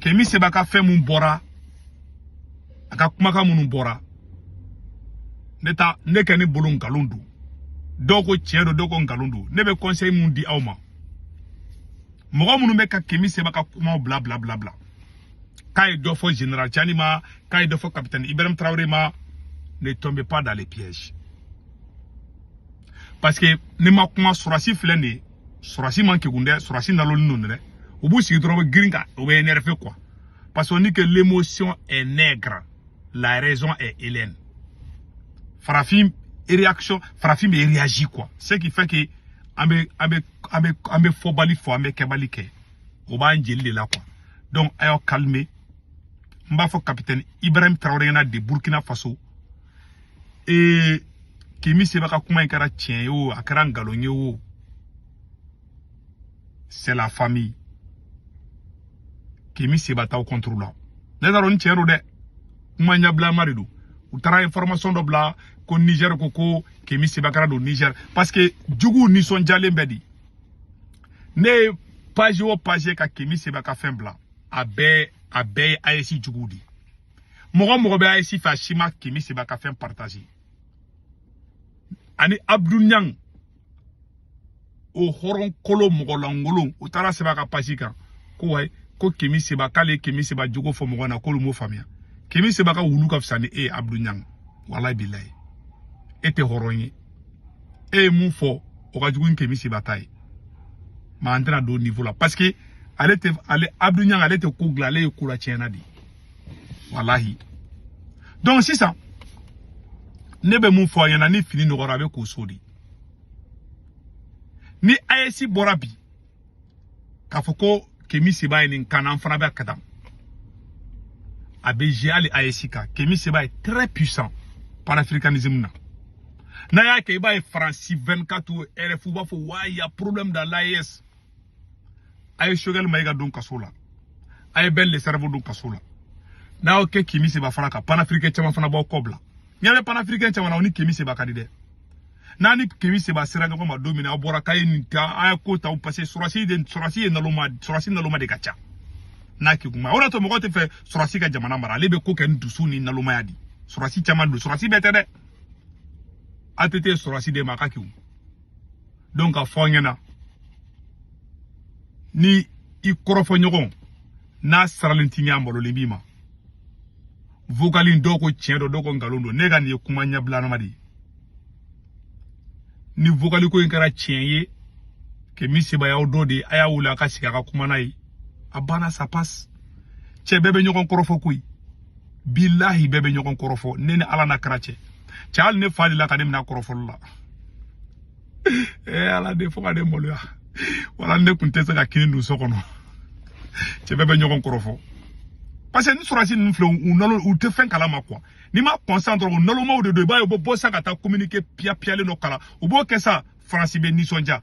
kemi seba ka fɛn min bɔra a ka kumakan minnu bɔra ne ta ne kɔni bolo nkalon don dɔw ko tiɲɛ don dɔw ko nkalon don ne bɛ conseil min di aw ma mɔgɔ minnu bɛ ka kemi seba ka kumaw bila bila bila bila k'a ye dɔ fɔ général tiani ma k'a ye dɔ fɔ capitaine ibrahim tarawele ma ne tombez pas dans les pièges parce que ne ma kuma sɔrɔsi filɛ nin ye sɔrɔsi man kegun dɛ sɔrɔsi nalonin don dɛ u b'u sigi dɔrɔn u bɛ girin ka u bɛ énerver quoi parce qu'on dit que l'émotion est nègre la raison est hélène farafin réaction farafin bɛ réagir quoi ce qui fait que an bɛ an bɛ an bɛ an bɛ fɔbali fɔ an bɛ kɛbali kɛ o b'an jeli de la quoi donc a y'aw calmer n b'a fɔ capitaine ibrahim tarawele ɲɛna de burkina faso ee kemi seba ka kuma in kɛra tiɲɛ ye o a kɛra nkalon ye o c'est la famille kemi seba t'aw contre la ne t'a dɔn ni tiɲɛ don dɛ kuma ɲɛbilama de don u taara information dɔ bila ko niger ko ko kemi seba kana don niger parce que juguw nisɔndiyalen bɛ di ne ye page o page ka kemi seba ka fɛn bila a bɛɛ a bɛɛ ye AES juguw de ye mɔgɔ mɔgɔ bɛ AES fɛ a si ma kemi seba ka fɛn partager ani abdu ɲang o hɔrɔn kolon mɔgɔ lankolon o taara sɛbɛn a ka page kan ko ouais ko kemi seba k'ale kemi seba jogo fɔ mɔgɔ na k'olu m'o faamuya kemi seba ka wulu ka fisa ni e ye abdu ɲang walayi bilayi e tɛ hɔrɔn ye e ye mun fɔ o ka jugu ni kemi seba ta ye mais an tɛna don niveau la parce que ale tɛ ale abdu ɲang ale tɛ ko dilan ale ye ko la tiɲɛna de ye walahi donc sisan ne bɛ mun fɔ a ɲɛna ni fini nɔgɔra a bɛ ko so de ni AES bɔra bi k'a fɔ ko Kemi Seba ye nin k'an na an fana bɛ ka taa a bɛ jouer hali AES kan Kemi Seba ye très puissant panafricanisme na n'a y'a kɛ i b'a ye France 24 RFI u b'a fɔ ouais il y a problème dans l'AES a ye choguel maïga don kaso la a ye ben le cerveau don kaso la n'a y'o kɛ kemi seba fana kan panafricain caman fana b'aw kɔ bila ɲɛ bɛ panafricain caman na u ni kemi seba ka di dɛ n'a ni kemi seba sera ɲɔgɔn ma don min na aw bɔra k'a ye nin ta a ye ko ta parce que sɔrɔsi de sɔrɔsi ye naloma sɔrɔsi naloma de ka ca n'a k'i kuma o de y'a to mɔgɔ tɛ fɛ sɔrɔsi ka jamana mara ale bɛ ko kɛ ni dusu ni nalomaya de sɔrɔsi caman don sɔrɔsi bɛɛ tɛ dɛ aw tɛ te sɔrɔsi de ma a ka k'i donc a fɔ a ɲɛna ni i kɔrɔfɔ ɲɔgɔn n'a siranlen t'i ɲɛ a malolen b'i ma vokali in dɔw ko tiɲɛ don dɔw ko nkalon don ne ka nin ye kuma ɲɛbilanama de ye ni vokali ko in kɛra tiɲɛ ye kemi seba y'aw dɔ de ye a y'a wele a ka sigi a ka kuma n'a ye a banna ça passe cɛ bɛɛ bɛ ɲɔgɔn kɔrɔfɔ koyi bilahi bɛɛ bɛ ɲɔgɔn kɔrɔfɔ ne ni ala n'a kira cɛ cɛ hali ne fa delila ka ne mina kɔrɔfɔli la ee ala de fo ka ne maloya wala ne tun tɛ se ka kini dun so kɔnɔ cɛ bɛɛ bɛ ɲɔgɔn kɔrɔfɔ parce que ni sɔrɔsi ninnu filɛ u nalo u tɛ fɛn kalama kuwa n'i ma kɔnsan dɔrɔn u nalomaw de don i b'a ye u bɛ bɔ sisan ka taa communiqué piyapiyalen dɔ kalan u b'o kɛ sa faransi bɛ nisɔndiya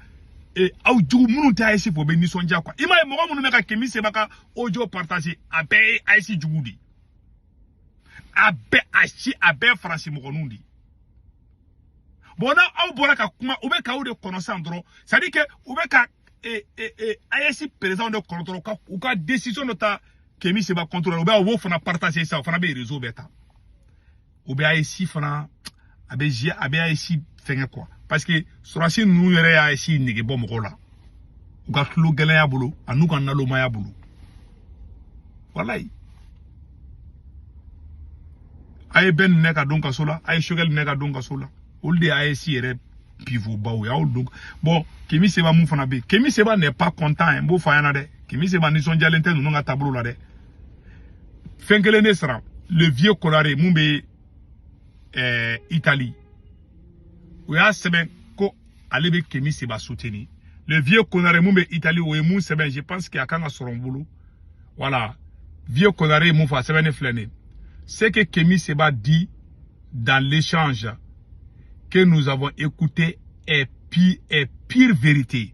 ee aw jugu minnu tɛ AES fɛ u bɛ nisɔndiya kuwa i m'a ye mɔgɔ minnu bɛ ka kemi seba ka audio partage a bɛɛ ye AES jugu de ye a bɛɛ a si a bɛɛ faransi mɔgɔninw de ye bon n'aw bɔra ka kuma u bɛ k'aw de kɔnɔ sisan dɔrɔn c'est à dire que u bɛ ka ee ee ee AES perezidanw de kɔnɔ dɔrɔn u ka u ka decision dɔ ta kemi seba contre la u bɛ u b'o fana partage sisan o fana bɛ reseau bɛɛ ta o bɛ AES fana a bɛ zi a bɛ AES fɛnkɛ kuwa parce que sɔrɔsi ninnu yɛrɛ ye AES nege bɔ mɔgɔw la u ka tulo gɛlɛya bolo an'u ka nalomaya bolo walayi a ye ben minɛ ka don kaso la a ye choguel minɛ ka don kaso la olu de ye AES yɛrɛ pivobaw ye aw don bon kemi seba min fana bɛ yen kemi seba n'est pas content n b'o fɔ a ɲɛna dɛ kemi seba nisɔndiyalen tɛ ninnu ka taabolo la dɛ fɛn kelen ne sera le vieux konare min bɛ ɛɛ eh, itali o y'a sɛbɛn ko ale bɛ kemi seba soutenir le vieux konare min bɛ itali o ye min sɛbɛn je pense que a kan ka sɔrɔ n bolo voilà vieux konare ye min fɔ a sɛbɛnnen filɛ nin ye ce que kemi seba dit dans l'échange que nous avons écouté est pure, est pure vérité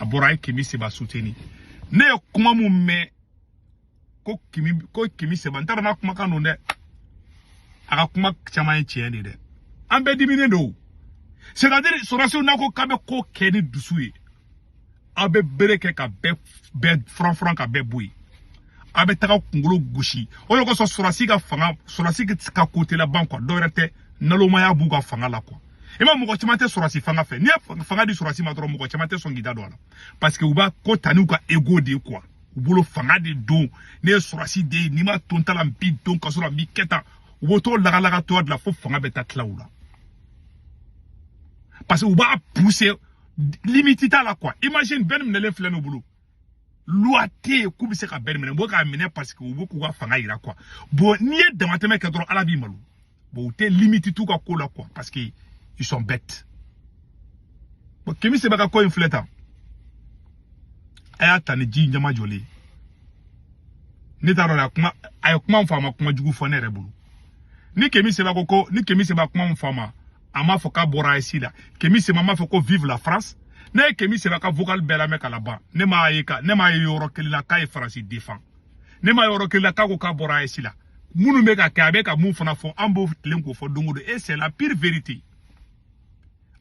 a bɔra a ye kemi seba soutenir ne ye kuma min mɛn ko kemi ko kemi seba n t'a dɔn n'a kumakan don dɛ a ka kuma caman ye tiɲɛ ye dɛ an bɛɛ diminen don c'est à dire sɔrɔsiw n'a ko k'a bɛ ko kɛ ni dusu ye aw bɛ bere kɛ ka bɛɛ bɛɛ furanfuran ka bɛɛ bɔ yen a bɛ taga kunkolo gosi o de kosɔn sɔrɔsi ka fanga sɔrɔsi ka ko tɛ laban kuwa dɔwɛrɛ tɛ nalomaya b'u ka fanga la kuwa i ma mɔgɔ caman tɛ sɔrɔsi fanga fɛ n'i ye fanga di sɔrɔsi ma dɔrɔn mɔgɔ caman tɛ sɔn k'i da don a la parce que u b'a ko ta n'u ka ego de ye kuwa u bolo fanga de don ne ye sɔrɔsi de ye n'i ma ton ta la n b'i don kaso la n b'i kɛ tan u b'o t'o lagalaga tɔgɔ de la fo fanga bɛ taa tila u la parce que u b'a pousser limite t'a la kuwa imagine ben minɛlen filɛ n'u bolo loi tɛ yen k'u bɛ se ka ben minɛ u bɛ k'a minɛ parce que u bɛ k'u ka fanga yira kuwa bon n'i ye damatɛmɛ kɛ dɔrɔn ala b'i malo bon u tɛ limite t'u ka ko la quoi parce que ils sont bêtes bon kemi seba ka ko in filɛ tan a y'a ta ni ji ɲɛmajɔlen ye ne t'a dɔn a kuma a ye kuma min fɔ a ma kuma jugu fɔ ne yɛrɛ bolo ni kemi seba ko ko ni kemi seba kuma min fɔ a ma a m'a fɔ k'a bɔra AES la kemi seba m'a fɔ ko vive la France ne ye kemi seba ka vocal bɛɛ lamɛn ka laban ne m'a ye ka ne m'a ye yɔrɔ kelen na k'a ye faransi defan ne m'a ye yɔrɔ kelen la k'a ko k'a bɔra AES la minnu bɛ ka kɛ a bɛ ka mun fana fɔ an b'o tilen k'o fɔ don o don et c'est la pure vérité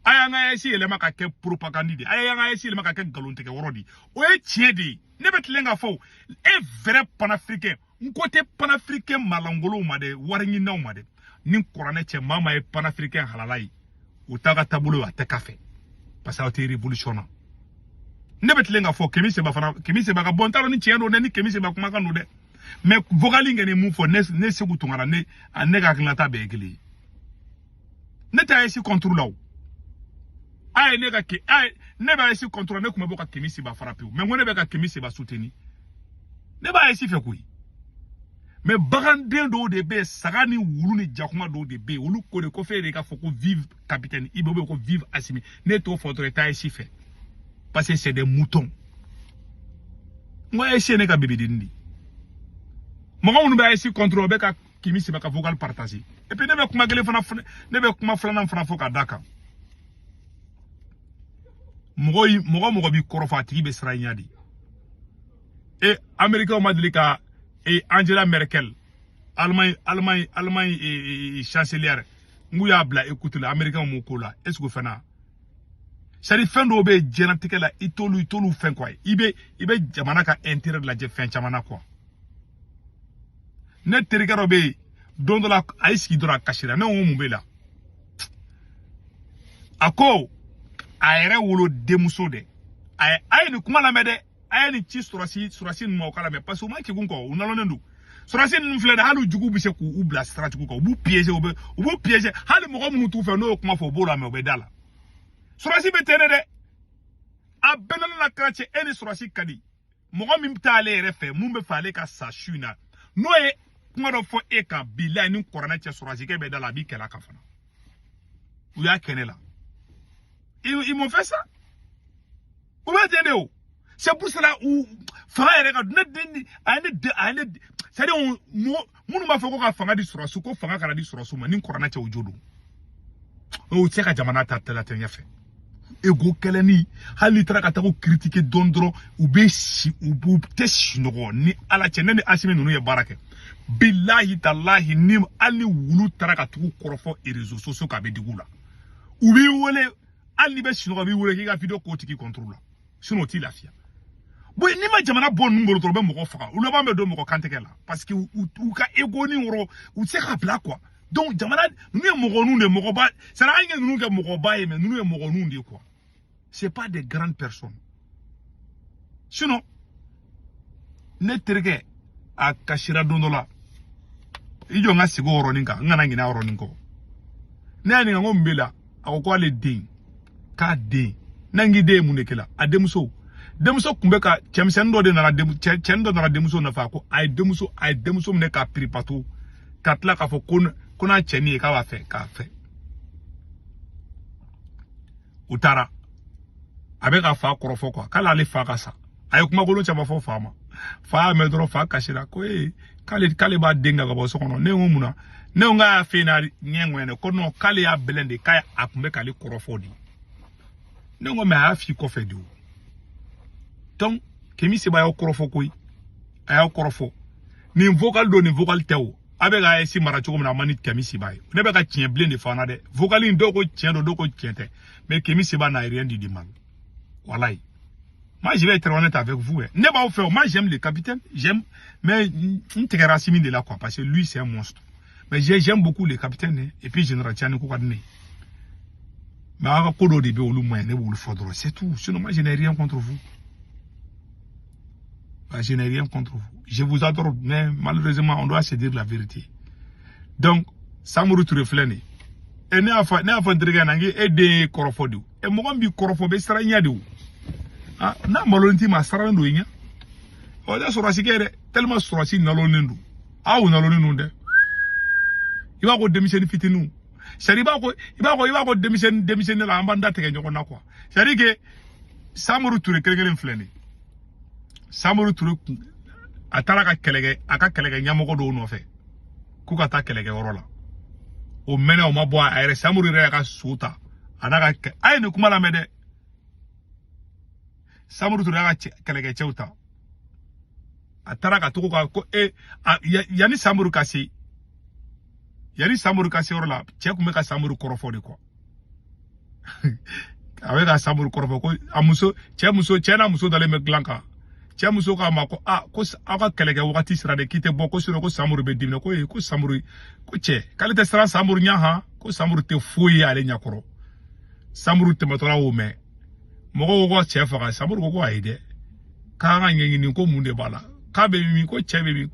a y'an ka AES yɛlɛma ka kɛ propagande de ye a y'an ka AES yɛlɛma ka kɛ nkalontigɛ yɔrɔ de ye o ye tiɲɛ de ye ne bɛ tilen k'a fɔ o ye vrai panafricain n ko tɛ panafricain malankolonw ma dɛ wari ɲininaw ma dɛ ni kuranɛ cɛ maa maa ye panafricain halala ye u t'a ka taabolo a tɛ k'a fɛ parce que aw tɛ révolution na ne bɛ tilen k'a fɔ kemi seba fana kemi seba ka bɔ n t'a dɔn ni tiɲɛ don dɛ ni kemi seba kumakan don dɛ mais vocal in kɛ ni mun fɔ ne ne seku tunkara ne ne ka hakilinata bɛɛ ye kelen ye ne tɛ AES contre la o a ye ne ka kɛ a ye ne bɛ AES contre ne tun bɛ bɔ ka kemi seba frapper mais n ko ne bɛ ka kemi seba soutenir ne bɛ AES fɛ koyi mais baganden dɔw de bɛ saga ni wulu ni jakuma dɔw de bɛ olu ko de ko f'e de k'a fɔ ko vive capitaine IB bɛ ko vive asimi n'i t'o fɔ dɔrɔn i tɛ AES fɛ parce que c'est des moutons n ko AES ye ne ka bébé dennin de mɔgɔ minnu bɛ AES contre o bɛ ka kemi seba ka vocal partager et puis ne bɛ kuma kelen fana ne bɛ kuma filanan fana fɔ ka d'a kan mɔgɔ mɔgɔ mɔgɔ b'i kɔrɔfɔ a tigi bɛ siran i ɲɛ de e américainw ma deli ka e angela merkel allemagne allemagne allemagne e, e, e chancelière n ko u y'a bila écoute la américainw m'o k'o la est ce que o fana sara fɛn dɔw bɛ diɲɛnatigɛ la i t'olu i t'olu fɛn quoi i bɛ i bɛ jamana ka intérêt lajɛ fɛn caman na quoi ne terikɛ dɔ bɛ yen don dɔ la a y'i sigi dɔrɔn a kasira ne ko mun b'e la a ko a yɛrɛ wolo denmuso dɛ a ye a ye nin kuma lamɛn dɛ a ye nin ci surasi surasi ninnu ma u k'a lamɛn parce que u man kegun kɔ u nalonnen don surasi ninnu filɛ dɛ hali jugu bɛ se k'u bila stratégie kan u b'u piéger u bɛ u b'u piéger hali mɔgɔ minnu t'u fɛ n'o ye kuma fɔ u b'o lamɛn u bɛ d'a la surasi bɛ ten de dɛ a bɛɛ nana na kɛra cɛ e ni surasi ka di mɔgɔ min t'ale yɛrɛ fɛ min b'a fɛ ale ka sa su in na n'o ye kuma dɔ fɔ e kan bilayi ni kuranɛ cɛ surasikɛ bɛ d'a la a b'i kɛlɛ a kan fana u y'a kɛ ne la ils m'ont fait ça o bɛ ten de o c'est pour cela u fanga yɛrɛ ka ne den a ye ne den a ye ne c'est à dire mɔgɔ minnu b'a fɔ ko ka fanga di sɔrɔdasiw ko fanga kana di sɔrɔdasiw ma ni kurana cɛ o jo don o tɛ se ka jamana ta tɛla tɛ ɲɛfɛ ego kɛlɛni hali n'i taara ka taa u critiquer dɔɔnin dɔrɔn u bɛ si u b'u tɛ sunɔgɔ ni ala cɛ ne ni asimi ninnu ye baara kɛ bilahi talahi ni hali ni wulu taara ka taa u kɔrɔfɔ réseaux sociaux kan a bɛ digi u la u b'i wele hali n'i bɛ sunɔgɔ u b'i wele k'i ka video k'o tigi contre la sinon u t'i lafiya bon n'i ma jamana bɔ ninnu bolo dɔrɔn u bɛ mɔgɔ faga u laban bɛ don mɔgɔ kantigɛ la parce que u ka ego ni wɔrɔ u tɛ se k'a bila quoi donc jamana ninnu ye mɔgɔninw de ye mɔgɔba sara an ye ninnu kɛ mɔgɔba ye mais ninnu ye mɔgɔninw de ye quoi c'est pas des grandes personnes sinon ne terikɛ a kasira don dɔ la i jɔ n ka segin o yɔrɔnin kan n kana ɲinɛ a yɔrɔnin kɔ ne y'a ɲininka n ko mun b'e la a ko k'ale den k'a den n'a k'i den ye mun de kɛ la a denmuso denmuso tun bɛ ka cɛmisɛnnin dɔ de nana cɛnin dɔ nana denmuso nɔfɛ ko a ye denmuso a ye denmuso minɛ k'a piripato ka tila k'a fɔ ko ko n'a cɛnin ye k'a b'a fɛ k'a fɛ u taara a bɛ ka fa kɔrɔfɔ quoi k'ale ale fa ka sa a ye kumakolon caman fɔ fa ma fa y'a mɛn dɔrɔn fa kasira ko ee k'ale k'ale b'a den gɛn ka bɔ so kɔnɔ ne ko mun na ne ko k'a y'a fɛ n'a ɲɛ ŋɛɲɛ ko non k'ale y'a bɛlɛn de k'a a tun bɛ k'ale kɔrɔfɔ de ne ko mais a y'a f'i kɔfɛ de o donc kemi seba y'aw kɔrɔfɔ koyi a y'aw kɔrɔfɔ nin vocal don nin vocal tɛ o aw bɛ ka AES mara cogo min na a man di kemi seba ye ne bɛ ka tiɲɛ bilen de fana dɛ vocal in dɔw ko tiɲɛ don dɔw ko tiɲɛ tɛ mais kemi seba n'a rien dit de mal walayi moi je vais être honnête avec vous eh. ne b'aw fɛ moi j'aime le capitaine j'aime mais n tigɛra asimi de la quoi parce que lui c'est un monstre mais j'aime beaucoup le capitaine eh. et puis général tiani ko ka di ne ye mais aw ka ko dɔw de bɛ olu man ɲi ne b'olu fɔ dɔrɔn c'est tout sinon moi je n'ai rien contre vous Bah, je n'ai rien contre vous. Je vous adore, mais malheureusement, on doit se dire la vérité. Donc, Samuru Touré filɛ nin ye. ne y'a fɔ ne y'a fɔ n terikɛ na n k'e den y'i kɔrɔfɔ de o. Ɛ mɔgɔ min b'i kɔrɔfɔ bɛ siran i ɲɛ de o. Ah, n'a malolen t'i ma a siralen don i ɲɛ. Ɔ tɛ sɔrɔdasi kɛ dɛ tellement sɔrɔdasi nalonnen don. Aw nalonnen don dɛ. I b'a ko denmisɛnnin fitininw. C'est-à-dire i b'a ko i b'a ko i b'a ko denmisɛnnin denmisɛnnin la an b'an da tigɛ ɲɔgɔn na quoi. c'est à dire que samuru ture kelen kelen filɛ nin ye samuru ture a taara ka kɛlɛkɛ a ka kɛlɛkɛ ɲɛmɔgɔ dɔw nɔfɛ k'u ka taa kɛlɛkɛ yɔrɔ la o mɛnna o ma bɔ a yɛrɛ samuru yɛrɛ y'a ka so ta a n'a ka a ye nin kuma lamɛn dɛ samuru ture y'a ka kɛlɛkɛcɛw ta a taara ka tugu u kɔ e yanni samuru ka se yanni samuru ka se yɔrɔ la cɛ tun bɛ ka samuru kɔrɔfɔ de kɔ a bɛ ka samori kɔrɔfɔ ko a muso cɛ muso cɛ n'a muso dalen bɛ dilan kan cɛ muso k'a ma ko a ko aw ka kɛlɛkɛ wagati sera dɛ k'i tɛ bɔ ko sinɔn ko samori bɛ dimina ko ee ko samori ko cɛ k'ale tɛ siran samori ɲɛ han ko samori tɛ foyi ye ale ɲɛkɔrɔ samori tɛmɛtɔla y'o mɛn mɔgɔw ko ka cɛ faga samori ko ko ayi dɛ k'an k'a ɲɛɲini ko mun de b'a la k'a bɛ min ko cɛ bɛ min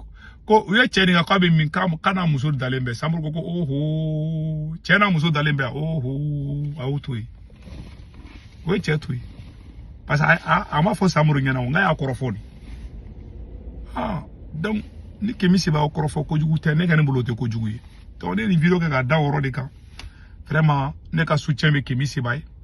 ko u ye cɛ nin ka k'a bɛ min k'a n'a muso dalen bɛ samori ko ko oho cɛ n'a muso dalen bɛ oho a y'o to yen u ye cɛ to yen parce que a a ma fɔ samori ɲɛna nka a y'a kɔrɔfɔ de ah donc ni kemi seba o kɔrɔfɔ kojugu tɛ ne ka ne bolo o tɛ kojugu ye donc ne ye nin video kɛ ka da o yɔrɔ de kan vraiment ne ka soutien bɛ kemi seba ye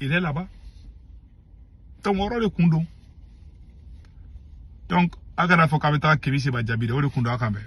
il est là-bas donc o yɔrɔ de kun don donc a kana fɔ k'a bɛ taa kemi seba jaabi dɛ o de kun don a k'an bɛn